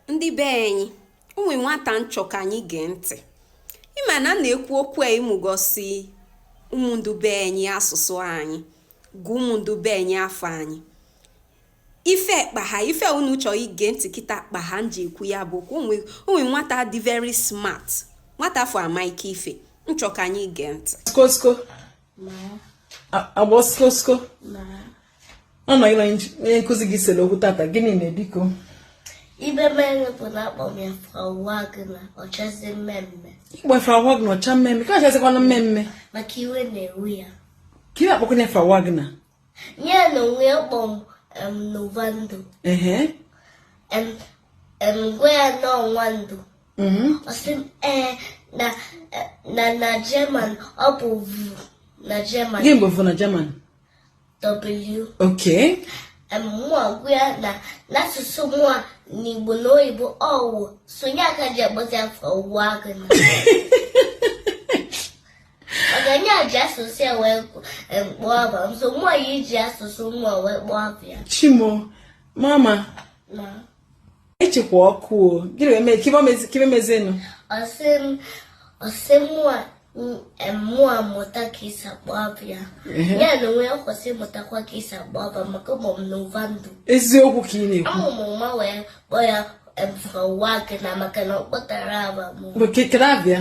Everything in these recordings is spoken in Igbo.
ndị be anyị o nwe nwata m chọ ka anyị gee ntị ị ma na na-ekwu okwu a ịmụgosi ụmụ ndị be anyị asụsụ anyị gụọ ụmụ ndị be anyị afa anyị ife kpaha ife unu chọọ ige ntị kịta kpaha m ji ekwu ya bụ okwu o nwe nwata dị very smart nwata afụ amaịka ife m chọ ka anyị gee ntị agba oskosko ọ na ị na onye nkụzi gị sere okwu tata gịnị me biko ife mere bụ na akpọ m ya Frau Wagner ọ chazie mmemme ị kpọ Frau Wagner ọ cha mmemme ka ọ chazikwana mmemme maka iwe na-ewe ya ka iwe akpọkwana Frau Wagner ya na onwe ya kpọrọ m Novando ehe em, m gwa ya na ọ Nwando mhm, ọ sị m ee na eh, na na German ọ bụ vu na German gị mgbe bụ na German w okay em, mụa gwa ya na n'asụsụ mụa n'Igbo na oyibo ọ wu so nye aka ji agbata Frau Wagner Ọ kwa na ya ji asụsụ ya wee kpọọ afa m so mụ ya-eji asụsụ mụ wee kpọọ afa ya. Chim o, mama. Ma. Ị chịkwa ọkụ o, gịnị wee mee kee ife mezịnụ? Ọ sị m, ọ sị mụa mụa mụta ka e si akpọ afa ya. Ya na onwe ya kwesị mụtakwa ka e si akpọ afa maka ụmụ m Novando. Eziokwu ka ị na-ekwu. Amụ m nwa wee kpọọ ya Frau Wagner maka na ọ kpọtarọ afa mụ. Kedụ abịa?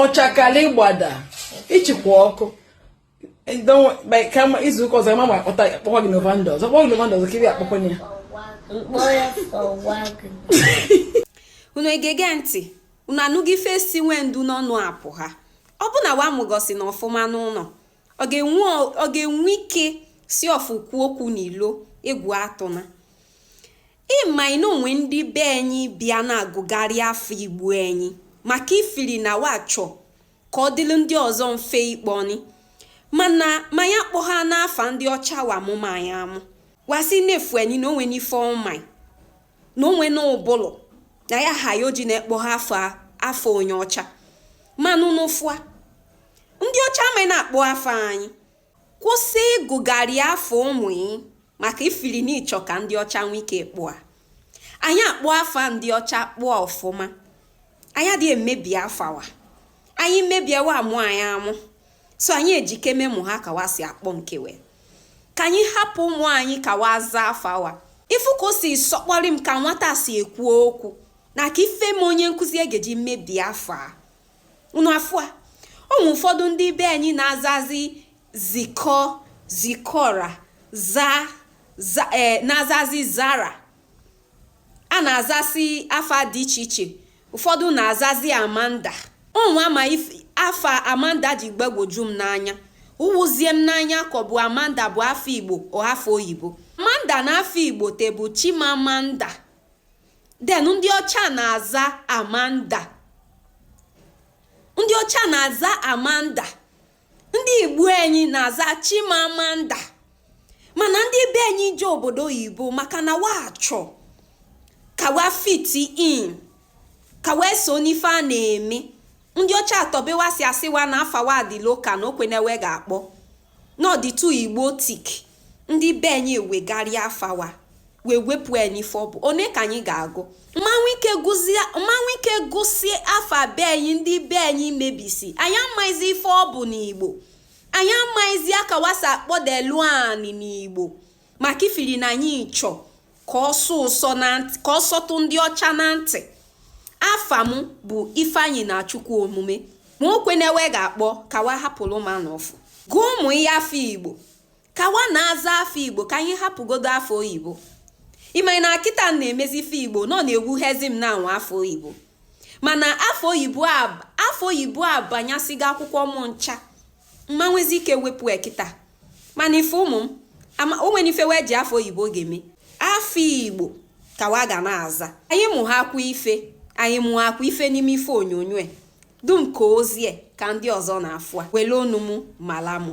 ọchakali gbada ị chịkwa ọkụ kama izu ụka ọzọ ma ma akpọta akpọkwa gị Novando ọzọ kpọọ gị Novando ọzọ ka ị akpọkwanụ ya m kpọọ ya Frau Wagner unu egego ntị unu anụgo ife si Nwando n'ọnụ apụha ọ bụ na wa amụgosina ọfụma n'ụnọ ọ ga-enwe ike si ọfụ kwuo okwu n'ilo egwu atụna Ị maị na o nwe ndị be anyị bịa na-agụgharị afa Igbo anyị maka ifiri na wa chọ ka ọ dịrị ndị ọzọ mfe ịkpọni mana ma anyị akpọhana afa ndị ọcha wa mụma anyị amụ wa sị na-efu anyị na o nwena ife ọ maị na o nwena ụbụlụ na ya ha ya o ji na-akpọha afa onye ọcha manụ n'ụfụa ndị ọcha amaghị na-akpọ afa anyị Kwụsị ịgụgharị afa ụmụ ị maka ifili na ị chọ ka ndị ọcha nwee ike kpọa. Anyị akpọọ afa ndị ọcha kpọa ọfụma. Anyị adịghị emebi afa wa. Anyị mebie wa amụ anyị amụ. So anyị ejikeme mụha ka wa si akpọ nke wa. Ka anyị hapụ ụmụ anyị ka wa zaa afa wa. Ị fụ ka o si sọkpọrị m ka nwata si ekwu okwu na kee ife me onye nkụzi ga-eji mebie afa ya. unu afụa ụmụ ụfọdụ ndị be anyị na-azazi zikọ zikọra za za ee na-azazi zara a na-azasị afa dị iche iche ụfọdụ na-azazi amanda ụmụ ama afa amanda ji gbagwoju m n'anya ụwụzie m n'anya ka ọ bụ amanda bụ afa igbo ọ afa oyibo amanda na afa igbo te bụ chimamanda then ndị ọcha na-aza amanda ndị ọcha na-aza amanda ndị igbo anyị na-aza chimamanda mana ndị be anyị je obodo oyibo maka na wa chọ ka wa fit in ka wee so n'ife a na-eme ndị ọcha atọbe wa si asị wa na afa wa dị local na o kwene wa ga-akpọ n'ọ dị too igbotic ndị be anyị ewegharịa afa wa wee wepụ ya n'ife ọ bụ one ka anyị ga-agụ m ma nwe ike gụsie afa be anyị ndị be anyị mebisi anyị amaghịzi ife ọ bụ n'igbo anyị amaghịzi aka wa si akpọdelu anyị n'igbo maka ifiri na anyị chọ ka ọ sọtụ ndị ọcha na ntị afa m bụ ifeanyi na chukwu omume ma o kwene wa ga-akpọ ka wa hapụrụ m a n'ọfụ gụọ ụmụ ya afa igbo ka wa na-aza afa igbo ka anyị hapụgodu afa oyibo ịmanye na kịta na-emezi ife igbo na ọ na-ewutezi m na m nwe afa oyibo mana afa oyibo abanyasịgo akwụkwọ m ncha m ma nwezi ike wepụ ya kịta mana ife ụmụ m o nwere ife wa eji afa oyibo ga-eme afa igbo ka wa ga na-aza anyị mụakwa ife anyị mụakwa ife n'ime ife onyonyo a dum ka ozie ka ndị ọzọ na-afụ a were ọnụ m mala mụ